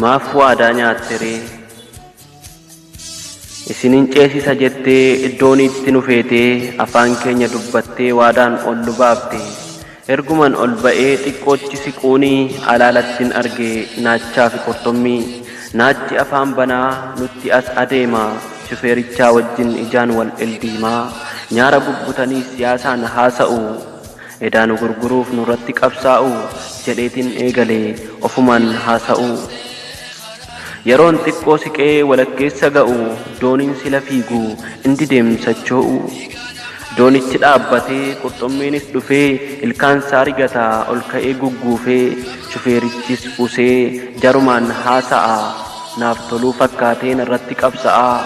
Maaf waadaa nyaatte ree? Isin hin ceesisa jettee iddooniitti nu feetee afaan keenya dubbattee waadaan ol nu baafte. Erguman ol ba'ee xiqqoochi siquuni alaalattin arge naachaa fi qurxummii. Naachi afaan banaa nutti as adeema. Shufeerichaa wajjin ijaan wal dhildiimaa. Nyaara bubbutanii siyaasaan haasa'u. Edaa nu gurguruuf nurratti qabsaa'u jedheetin eegale ofumaan haasa'u. Yeroon xiqqoo siqee walakkeessa ga'u dooniin sila fiigu in dideem sochoo'u. Doonichi dhaabbatee qurxummiinis dhufee ilkaansaa rigata ol ka'ee gugguufee shufeerichis usee jarumaan haasa'a. Naaf toluu fakkaatee narratti qabsa'aa.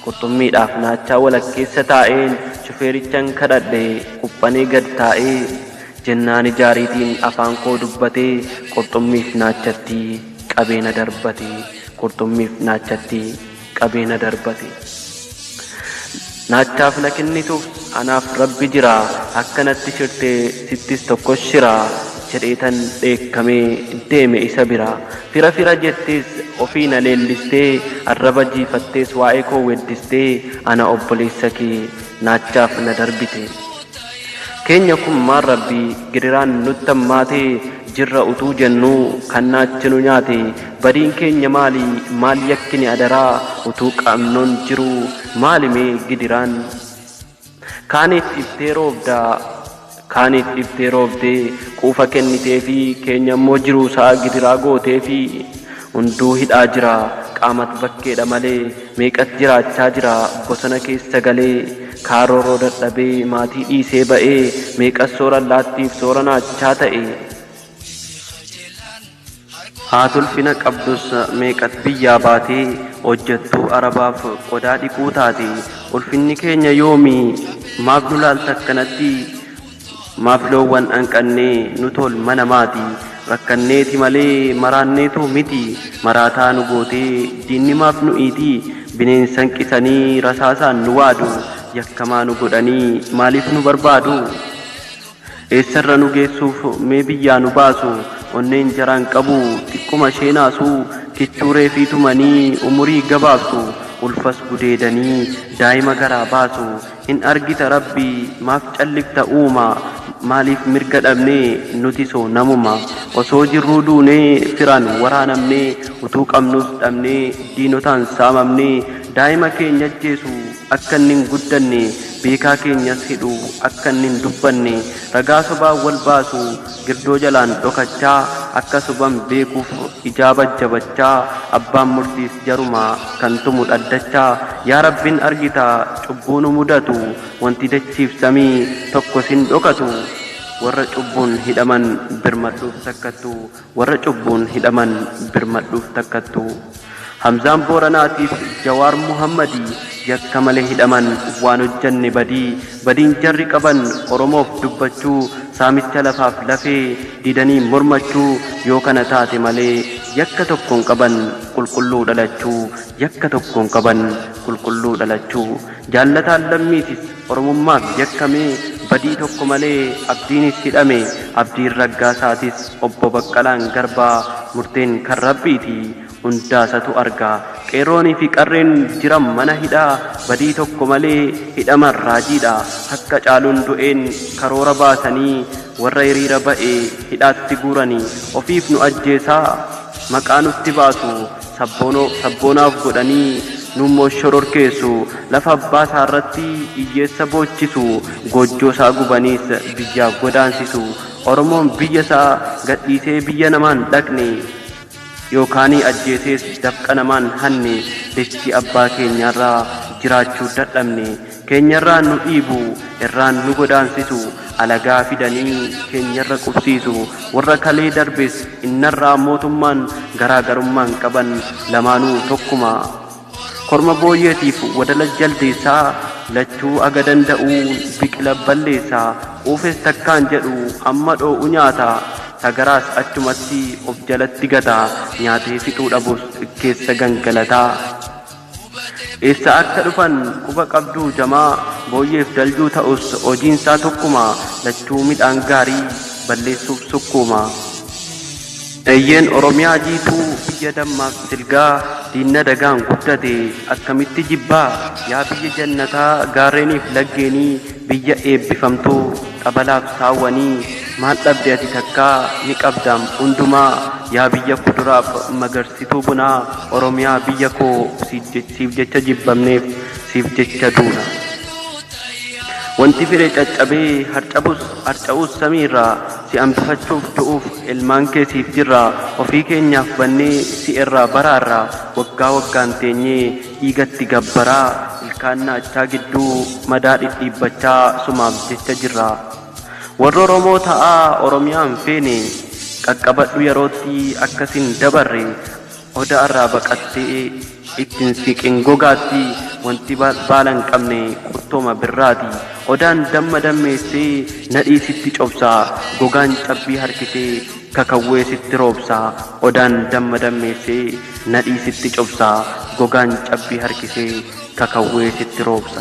Qurxummiidhaaf naachaa walakkeessa taa'een shufeerichan kadhadhe, quphanee gad taa'ee jennaan ija ariitiin afaan koo dubbatee qurxummiif naachatti qabee na darbate, qurxummiif naachatti qabee na darbate. Naachaaf na kennituuf anaaf Rabbi jira, akka natti shirte sittis tokkos shira jedheetan dheekkamee deeme isa bira. Fira fira jettees ofii na leellistee Arraba jiifattees waa'ee koo weeddistee Ana obboleessa kee naachaaf na darbite Keenya kun maal rabbi gidiraan nutti hammaate Jirra utuu jennuu kan naachi nu nyaate Badiin keenya maali maal yakkine adaraa Utuu qabnuun jiruu maali mee gidiraan Kaaniif dhiftee roobda, kaaniif dhiftee roobdee quufa kenniteefii, keenyammoo jiruusaa gidiraa gooteefii. Hunduu hidhaa jira, qaamat bakkeedha malee, meeqat jiraachaa jira bosona keessa galee. Kaa roorroo dadhabee maatii dhiisee ba'ee, meeqat soora allaattiif soora naachaa ta'e. Haati ulfina qabdus meeqat biyyaa baatee hojjattuu arabaaf qodaa dhiquu taate ulfinni keenya yoomi maaf nu laalta akkanatti maaf loowwan anqannee nu tool mana maati rakkanneeti malee maraanneetoo miti maraataa nu gootee diinni maaf nu iiti bineensan qisanii rasaasaan nu waadu yakkamaa nu godhanii maaliif nu barbaadu. Eessarra nu geessuuf mee biyyaa nu baasu onneen jaraa hin qabu xiqquma ishee naasu kichuu reefii tumanii umurii gabaabsu ulfas gudeedanii daa'ima garaa baasu hin argita rabbi maaf callifta uuma maaliif mirga dhabne nuti soo namuma osoo jirruu duunee firaan waraanamne utuu qabnuus dhabnee diinotaan saamamne daa'ima keenya ajjeesu akka inni hin guddanne, beekaa keenyas hidhu akka inni hin dubbanne, ragaa sobaan wal baasu, girdoo jalaan dhokachaa, akka soban beekuuf ijaa bajjabachaa, abbaan murtiis jaruma, kan tumu dhaddacha. Yaa Rabbin argita cubbuu nu mudatu, wanti dachiif samii tokkos hin dhokatu. Warra cubbuun hidhaman birmadhuuf sakkattu. Warra cubbuun hidhaman birmadhuuf takkattu. Hamzaan Booranaatiif Jawaar Muhammadii yakka malee hidhaman waan hojjanne badii badiin jarri qaban Oromoof dubbachuu saamicha lafaaf lafee didanii mormachuu yoo kana taate malee yakka tokkoon qaban qulqulluu dhalachuu yakka tokkoon qaban qulqulluu dhalachuu Jaallataan Lammiitis Oromummaaf yakkamee badii tokko malee Abdiinis hidhame. Abdiin Raggaasaatis Obbo Baqqalaan Garbaa murteen kan Rabbiiti. Hundaasatu arga. Qeerroonii fi qarreen jiran mana hidhaa badii tokko malee hidhaman raajiidha. Akka Caaluun du'een karoora baasanii warra hiriira ba'e hidhaatti guurani. Ofiif nu ajjeesaa maqaa nutti baasu. sabboonoo sabboonaa of godhanii nuummoo shororkeessu, lafa abbaa isaa irratti hiyyeessa boochisu, goojjoo isaa gubaniis biyyaa godaansisu. Oromoon biyya isaa gadhiisee biyya namaa hin dhaqne, yookaanii ajjeesees dafqa namaa hin hanne, dachii abbaa keenyaa irra jiraachuu dadhabne. Keenyarraan nu dhiibu, irraan nu godaansisu, alagaa fidanii keenyarra qubsiisu. Warra kalee darbes innarraa mootummaan garaa garummaan qaban lamaanuu tokkuma. Korma booyyeetiif wadala jaldeessa, lachuu aga danda'uu biqila balleessa. Quufes takkaan jedhu hamma dhoo'u nyaata, sagaraas achumatti of jalatti gata, nyaatee fixuu dhabus keessa gangalata. Eessaa akka dhufan quba qabduu jamaa? Booyyeef daljuu ta'us hojiinsaa tokkuma, lachuu midhaan gaarii balleessuuf sukkuuma. Eeyyeen Oromiyaa jiituu biyya dammaaf silgaa diinna dagaan guddate akkamitti jibbaa? Yaa biyya jannataa gaarreeniif laggeenii, Biyya eebbifamtuu xabalaaf saawwanii maal dhabde ati takkaa ni qabdaam hundumaa yaa biyya kuduraaf magarsituu bunaa oromiyaa biyya koo siif jecha jibbamneef siif jecha duuna wanti fire caccabee harcabus harca'uus samii irraa si hambifachuuf du'uuf ilmaan kee siif jirraa ofii keenyaaf bannee si irraa baraarra waggaa waggaan teenyee Dhiigatti gabbaraa, ilkaan naachaa gidduu madaa dhidhiibbachaa sumaaf jecha jirra. Warra Oromoo ta'aa Oromiyaa hin feene qaqqabadhu yerootti akka sin dabarre Oda irraa baqattee itti hin siqin gogaatti wanti baala hin qabne qurtooma birraati. Odaan damma dammeessee nadhii sitti cobsa gogaan cabbii harkisee Kakawwee sitti roobsa, Odaan damma dammeessee, Nadhii sitti cobsa, Gogaan cabbii harkisee, Kakawwee sitti roobsa.